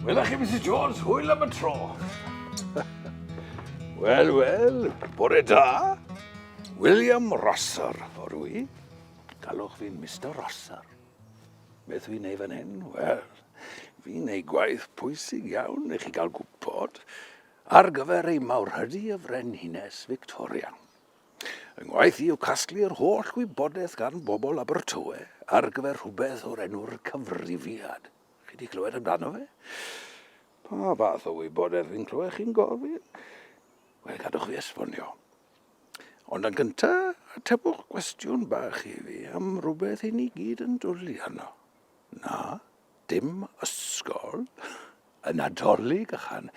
Wela chi, Mrs Jones, hwyl am y tro. Wel, wel, bore da. William Rosser, o rwy. Galwch fi'n Mr Rosser. Beth fi'n ei fan hyn? Wel, fi'n ei gwaith pwysig iawn i chi gael gwybod. ar gyfer ei mawrhydi y Frenhines Victoria. Fy ngwaith i yw casglu yr holl wybodaeth gan bobl Abertawe ar gyfer rhywbeth o'r enw'r cyfrifiad. Chi wedi clywed amdano fe? Pa fath o wybodaeth fi'n clywed chi'n gofyn? Wel, gadwch fi esbonio. Ond yn gyntaf, atebwch gwestiwn bach i fi am rhywbeth i ni gyd yn dwlu arno. Na? Dim ysgol? Y Nadolig ychan.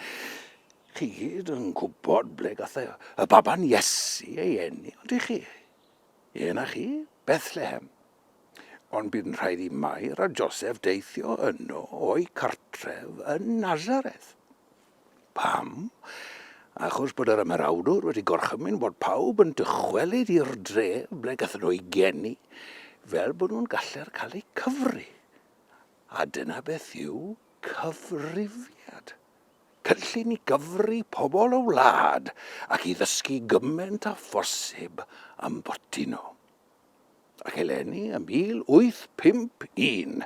Chi gyd yn gwybod ble gath y baban Iesu ei eni, ond i chi? Yen a chi, Bethlehem. Ond bu'n rhaid i Mair a Joseph deithio yno o'i cartref yn Nazareth. Pam? Achos bod yr ymerawdwr wedi gorchymyn bod pawb yn dychwelyd i'r dref ble gathen nhw eu geni, fel bod nhw'n galler cael eu cyfri. A dyna beth yw cyfrifiad. Cynllun i gyfri pobl y wlad ac i ddysgu gymaint â phosib am boti nhw. Ac eleni ym 1851,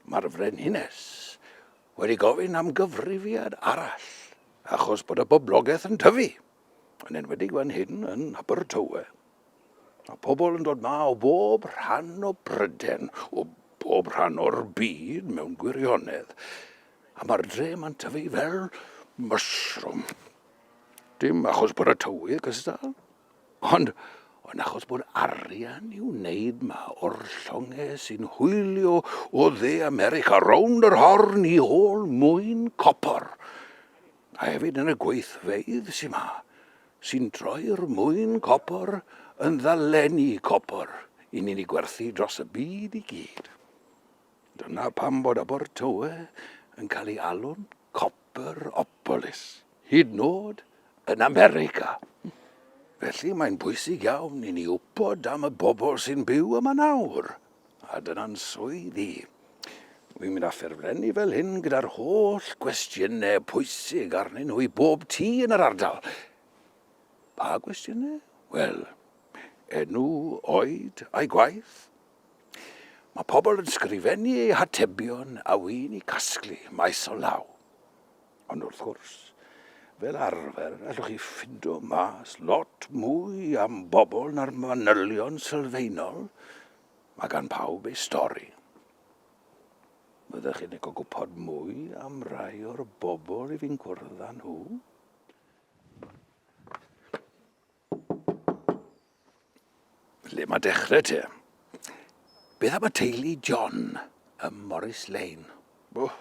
mae'r Frenhines wedi gofyn am gyfrifiad arall achos bod y boblogaeth yn tyfu, yn enwedig fan hyn yn Abertawe. Mae pobl yn dod ma o bob rhan o Bryden, o bob rhan o'r byd mewn gwirionedd, a mae'r dre mae'n tyfu fel mushroom. Dim achos bod y tywydd gystal, Ond, yn achos bod arian i'w wneud ma o'r llongau sy'n hwylio o dde America rownd yr horn i ôl mwyn copor, a hefyd yn y gweithfeydd sy'n ma, sy'n troi'r mwyn copor yn ddalenni copor i ni'n ei gwerthu dros y byd i gyd. Dyna pam bod Abertawe yn cael ei alw'n Copperopolis, hyd nod yn America. Felly mae'n bwysig iawn i ni wybod am y bobl sy'n byw yma nawr, a dyna'n swydd i. Wi'n mynd a ffurflenni fel hyn gyda'r holl gwestiynau pwysig arnyn nhw i bob tŷ yn yr ardal. Pa gwestiynau? Wel, enw, oed, a'i gwaith, Mae pobl yn sgrifennu eu hatebion a wy'n i casglu maes o law. Ond wrth gwrs, fel arfer, allwch chi ffindo mas lot mwy am bobl na'r manylion sylfaenol. Mae gan pawb ei stori. Byddech chi'n licio gwybod mwy am rai o'r bobl i fi'n cwrdd â nhw? Le mae dechrau te? Beth am y teulu John ym Morris Lane? Oh.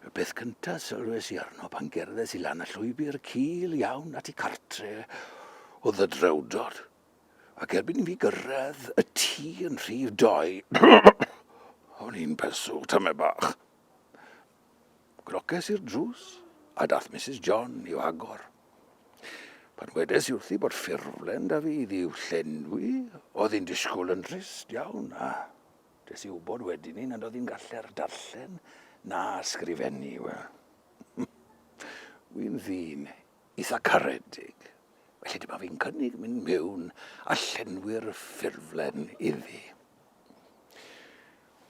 Y peth cyntaf sylwes i arno pan gerddes i lan y llwybr cil iawn at i cartre oedd y drewdod. Ac erbyn i fi gyrraedd y tŷ yn rhif doi, o'n i'n pesw tymau bach. Groces i'r drws, a daeth Misus John i'w hagor. Pan wedes i wrthi bod ffurflen da fi iddi i'w llenwi, oedd hi'n disgwyl yn drist iawn, a des i wybod wedyn ni nad oedd hi'n galler darllen na ysgrifennu, wel. Wi'n ddyn eitha caredig, felly dyma fi'n cynnig mynd mewn a llenwi'r ffurflen iddi.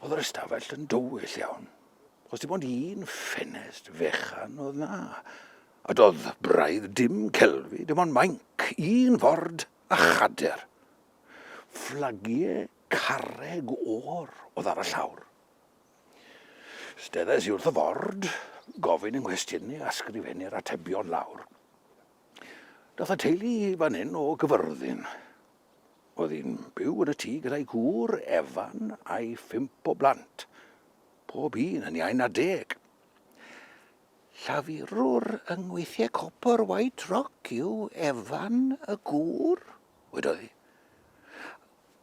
Oedd yr ystafell yn dywyll iawn, os dim ond un ffenest fechan oedd na, a doedd braidd dim celfi, dim ond mainc, un ford a chader. Fflagiau carreg o'r oedd ar y llawr. Steddais i wrth y ford, gofyn yng nghwestiynu a sgrifennu'r atebion lawr. Dath y teulu i fan hyn o Gyfyrddin. Oedd hi'n byw yn y tŷ gyda'i gŵr, Evan, a'i phump o blant, pob un yn iau na deg. Llafurwr yng ngweithiau copr White Rock yw Evan y gŵr, wedodd hi.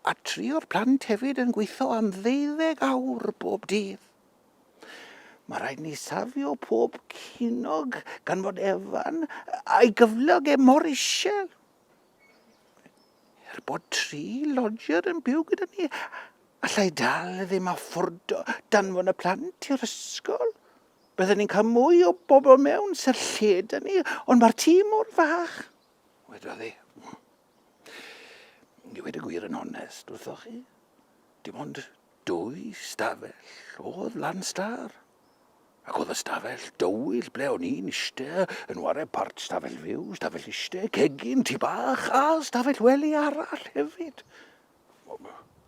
a tri o'r plant hefyd yn gweithio am ddeuddeg awr bob dydd. Mae rhaid ni safio pob cinog gan fod Evan a'i gyflog e mor isel. Er bod tri lodger yn byw gyda ni, allai dal ddim a ffwrdo danfon y plant i'r ysgol. Byddwn ni'n cael mwy o bobl mewn sy'r lle da ni, ond mae'r tîm mor fach, wedodd e. I wedi gwir yn onest wrthoch chi, dim ond dwy stafell oedd Lanstar. Ac oedd y stafell dywyll ble o'n i'n iste yn ware part stafell fyw, stafell iste, cegin, tu bach a stafell wely arall hefyd.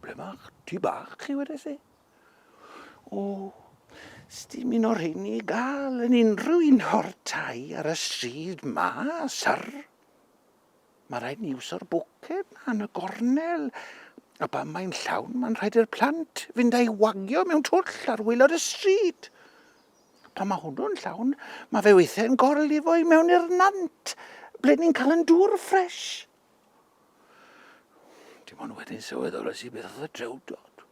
Ble mae'ch tu bach chi wedi si? O, sdim un o'r hyn i gael yn unrhyw un o'r tai ar y stryd ma, syr. Mae'n rhaid ni iwso'r bwced na yn y gornel. A pan mae'n llawn, mae'n rhaid i'r plant fynd a'i wagio mewn twll ar waelod y stryd. Pan mae hwnnw'n llawn, mae fe weithiau'n gorlifo i mewn i'r nant, ble ni'n cael yn dŵr ffres. Dim ond wedyn sylweddolais i beth oedd y drewdod.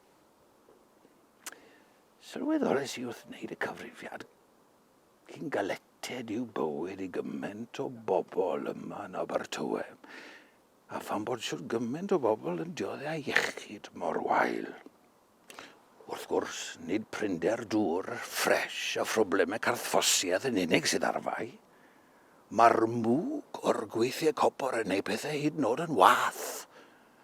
Sylweddolais i wrth wneud y cyfrifiad Cyn galleted yw bywyd i gymaint o bobl yma yn Abertawe, a phan bod shwt gymaint o bobl yn diodde â iechyd mor wael. Wrth gwrs, nid prinder dŵr ffres a phroblemau carthffosiaeth yn unig sydd ar fai. Mae'r mwg o'r gweithiau copor yn ei pethau hyd nod yn wath.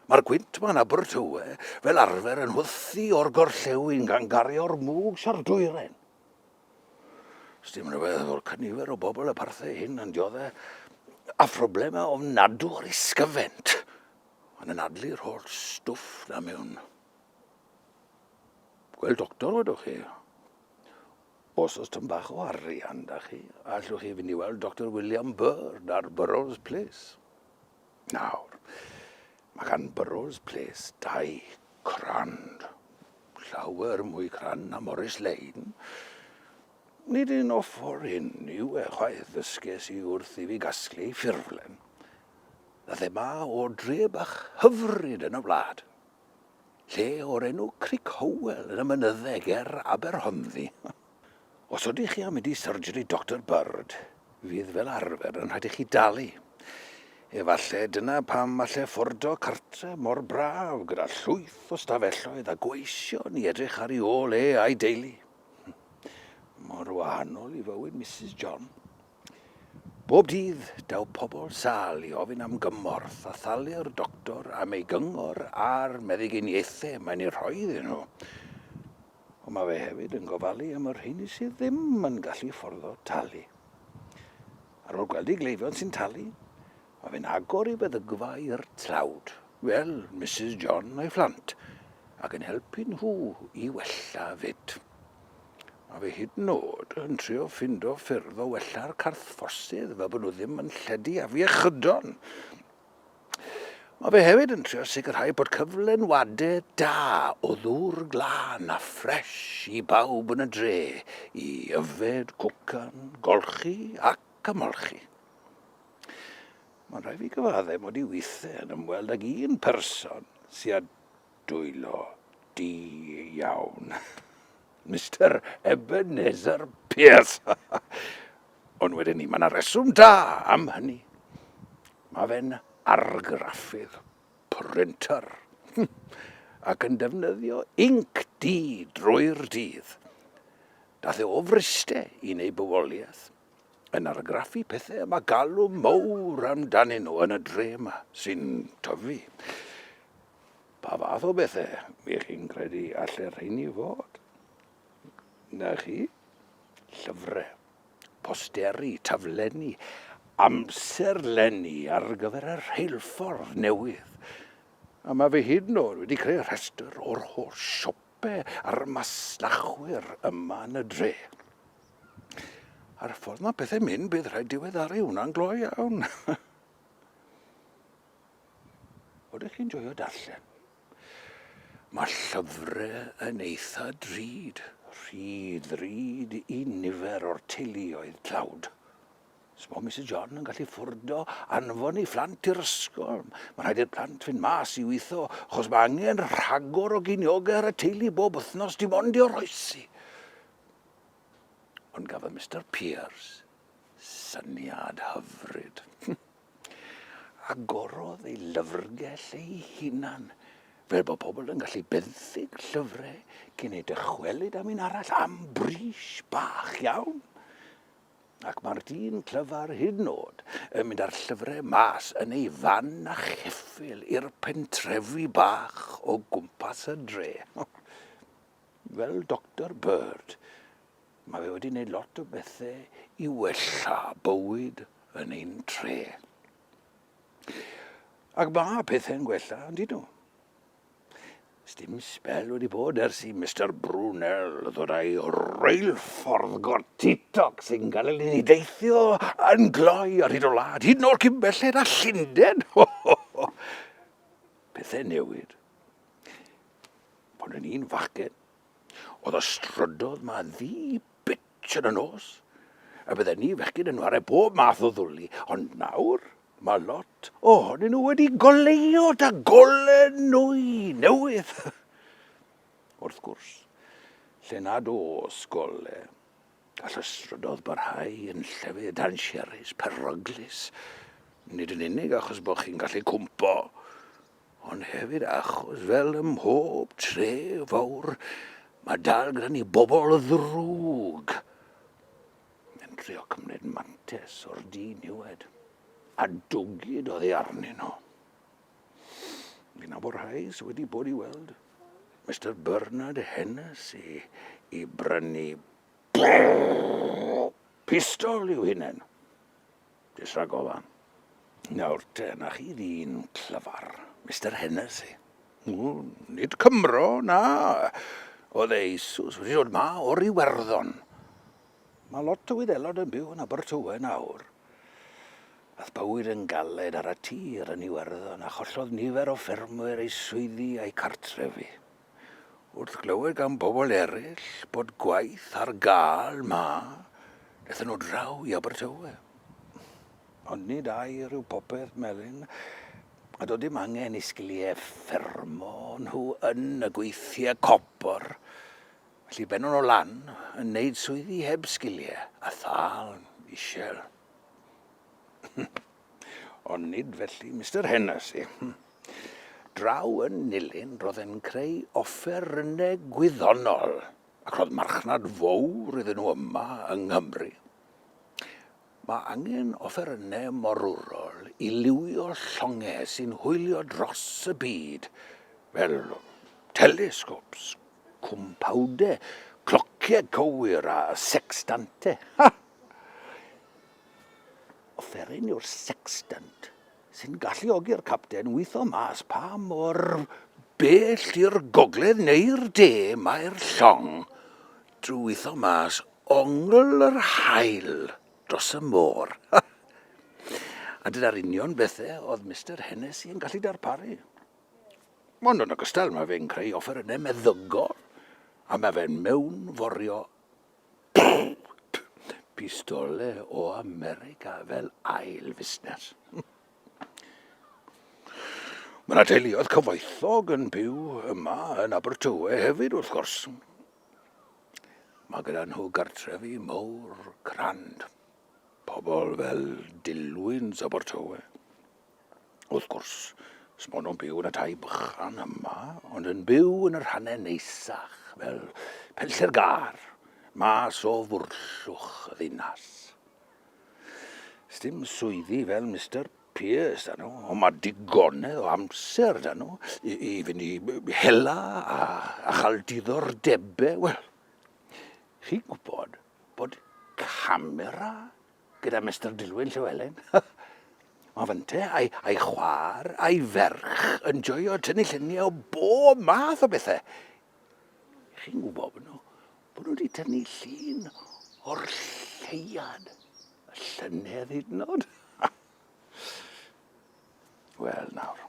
Mae'r gwynt mae'n Abertawe fel arfer yn hwthu o'r gorllewin gan gario'r mwg sio'r dwyren. Sdim rhywbeth o'r cynifer o bobl y parthe hyn yn diodde a phroblemau ofnadw o'r isgyfent. Mae'n anadlu'r holl stwff na mewn. Gweld doctor wedwch chi. Os oes tyn bach o arian da chi, allwch chi fynd i weld Dr William Byrd ar Burrows Place. Nawr, mae gan Burrows Place dau crand, llawer mwy crand na Morris Lane. Nid un o ffordd hyn yw e chwaith, ddysges i wrth i fi gasglu ffurflen. A thema o dre bach hyfryd yn y wlad. Lle o'r enw Cric Howell yn y mynydde ger Aberhonddu. Os ydych chi am mynd i syrjri Doctor Bird, fydd fel arfer yn rhaid i chi dalu. Efallai dyna pam allai ffordo cartre mor braf gyda llwyth o stafelloedd a gweision i edrych ar ei ôl e a'i deulu. Mor wahanol i fywyd Mrs John. Bob dydd, daw pobl sal i ofyn am gymorth a thalu'r doctor am ei gyngor a'r meddyginiaethau mae'n ei rhoi iddyn nhw. Ond mae fe hefyd yn gofalu am y rheiny sydd ddim yn gallu fforddo talu. Ar ôl gweld ei gleifion sy'n talu, mae fe'n agor ei feddygfa i'r tlawd, fel Misus John a'i phlant, ac yn helpu nhw i wella 'fyd. Mae fe hyd yn oed yn trio ffindo ffyrdd o wella'r carthfforsydd fel bod nhw ddim yn lledu afiechydon! Mae fe hefyd yn trio sicrhau bod cyflenwadau da o ddŵr glân a ffres i bawb yn y dre i yfed, cwcan, golchi ac ymolchi. Mae'n rhaid fi gyfaddau mod i weithiau yn ymweld ag un person sydd â Dwylo di iawn, Mister Ebenezer Pierce! Ond wedyn ni, mae yna reswm da am hynny. Mae fe'n argraffydd printer ac yn defnyddio inc di drwy'r dydd. Dath e o Fryste yn ei bywoliaeth yn argraffu pethau y mae galw mowr amdanyn nhw yn y dre yma sy'n tyfu. Pa fath o bethe y'ch chi'n credu alle rheiny fod? Na chi? Llyfre, posteri, taflenni, amserlenni ar gyfer y rheilffordd newydd. A mae fi hyd yn o'd wedi creu rhestr o'r holl siope a'r masnachwyr yma yn y dre. A'r ffordd mae pethe'n mynd, bydd rhaid diweddaru hwnna'n gloi iawn. Oeddech chi'n joio darllen? Mae llyfrau yn eitha drud, rhy ddrud i nifer o'r teuluoedd tlawd. Sbo Misus John yn gallu ffurdo anfon ei phlant i'r ysgol. Mae rhaid i'r plant fynd mas i weithio, achos mae angen rhagor o giniogau ar y teulu bob wythnos dim ond i oroesi. Ond gafodd Mister Pierce syniad hyfryd. Agorodd ei lyfrgell ei hunan, fel bod pobl yn gallu benthyg llyfrau cyn eu dychwelyd am un arall am bris bach iawn. Ac mae'r dyn clyfar hyd yn oed yn mynd â'r llyfrau mas yn ei fan a cheffyl i'r pentrefi bach o gwmpas y dre. Fel Doctor Bird, Mae fe wedi gwneud lot o bethau i wella bywyd yn ein tre. Ac mae pethau'n gwella, yn dydw. Sdim spel wedi bod ers i Mr Brunel ddod â'i reilffordd gortitoc sy'n cael ei ni deithio yn gloi ar hyd o wlad, hyd nôl cyn belled a Llynden. Pethau newid. Pan o'n i'n fachgen, Oedd y strydodd ma ddi bitch yn y nos, a bydden ni fechgyn yn ware bob math o ddwli, ond nawr mae lot ohonyn nhw wedi goleuo da golen nwy newydd. Wrth gwrs, lle nad oes gole, gall y strydodd barhau yn llefydd dansiarus, peryglus, nid yn unig achos bod chi'n gallu cwmpo, ond hefyd achos fel ym mhob tre fawr, mae dal gyda ni bobl ddrwg yn trio cymryd mantes o'r du niwed a dwgyd oddi arnyn nhw. Fi'n nabod rhai sydd wedi bod i weld Mister Bernard Hennessy i brynu pistol i'w hunain. Jyst rhag ofn. Nawr te, 'na chi ddyn clyfar, Mister Hennessy. O, nid Cymro, na. Oedd e eisus wedi dod 'ma o'r Iwerddon. Mae lot o Wyddelod yn byw yn Abertawe nawr. Ath bywyd yn galed ar y tir yn Iwerddon a chollodd nifer o ffermwyr eu swyddi a'u cartrefi. Wrth glywed gan bobl eraill bod gwaith ar gael 'ma, daethon nhw draw i Abertawe. Ond nid air yw popeth, Melin, a doedd dim angen i sgiliau ffermo nhw yn y gweithiau copr, felly bennon nhw lan yn neud swyddi heb sgiliau a thâl isel. Ond nid felly Mister Hennessy. Draw yn nilyn roedd e'n creu offerynnau gwyddonol, ac roedd marchnad fowr iddyn nhw yma yng Nghymru. Mae angen offerynnau morwrol i liwio llongau sy'n hwylio dros y byd, fel telescopes, cwmpawdau, clociau cywir a sextantau. Ha! Offeryn yw'r sextant sy'n galluogi'r capten witho mas pa mor bell i'r gogledd neu'r de mae'r llong drwy witho mas ongl yr haul dros y môr. A dyna'r union bethe oedd Mister Hennessy yn gallu darparu. Ond yn ogystal mae fe'n creu offerynnau meddygol a mae fe'n mewnforio bowt pistole o America fel ail fusnes. Mae yna teuluoedd cyfoethog yn byw yma yn Abertawe hefyd wrth gwrs. Mae gyda nhw gartrefi mawr crand. Pobl fel Dilwyns Abertawe. Wrth gwrs, sbon nhw'n byw yn y tai bychan yma, ond yn byw yn y rhannau neisach, fel penllter gar, mas o fwrllwch y ddinas. Sdim swyddi fel Mr Pearce da nhw, ond mae digonedd o amser da nhw i, i fynd i hela a, a chael diddordebau. Wel, chi'n gwybod bod camera gyda Mister Dilwyn Llywelyn. Mae fynte a'i, ai chwar a'i ferch yn joio tynnu lluniau o bob math o bethau. I chi'n gwybod bod nhw, bod nhw wedi tynnu llun o'r lleiad, y llynedd hyd yn oed. Wel nawr,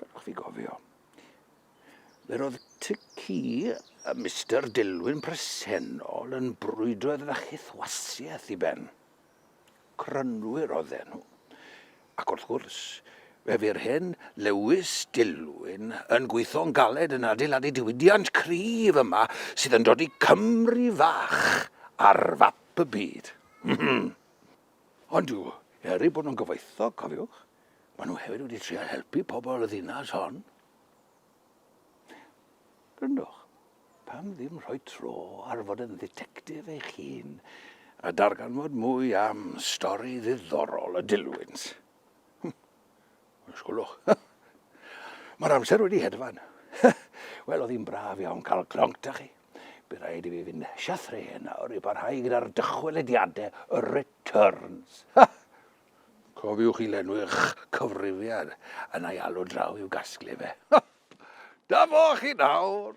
gadwch fi gofio. Yr oedd tŷ ci y Mister Dilwyn presennol yn brwydro iddo fe chyth wasiaeth i ben. Crynwyr oedden nhw, ac wrth gwrs, fe fu'r hen Lewis Dilwyn yn gweithio'n galed yn adeiladu diwydiant cryf yma sydd yn dodi Cymru fach ar fap y byd. Ond yw, er eu bod nhw'n gyfoethog, cofiwch, maen nhw hefyd wedi trial helpu pobl y ddinas hon. Gryndwch, pam ddim rhoi tro ar fod yn dditectif eich hun a darganfod mwy am stori ddiddorol y dilwynt? Hm, ysgwlwch. Mae'r amser wedi hedfan. Wel, oedd hi'n braf iawn cael clonc da chi. Bydd rhaid i fi fynd siathreu nawr i barhau gyda'r dychwelediadau y returns. Cofiwch i lenwi'ch cyfrifiad yn ei alw draw i'w gasglu fe. Dyma chi nawr!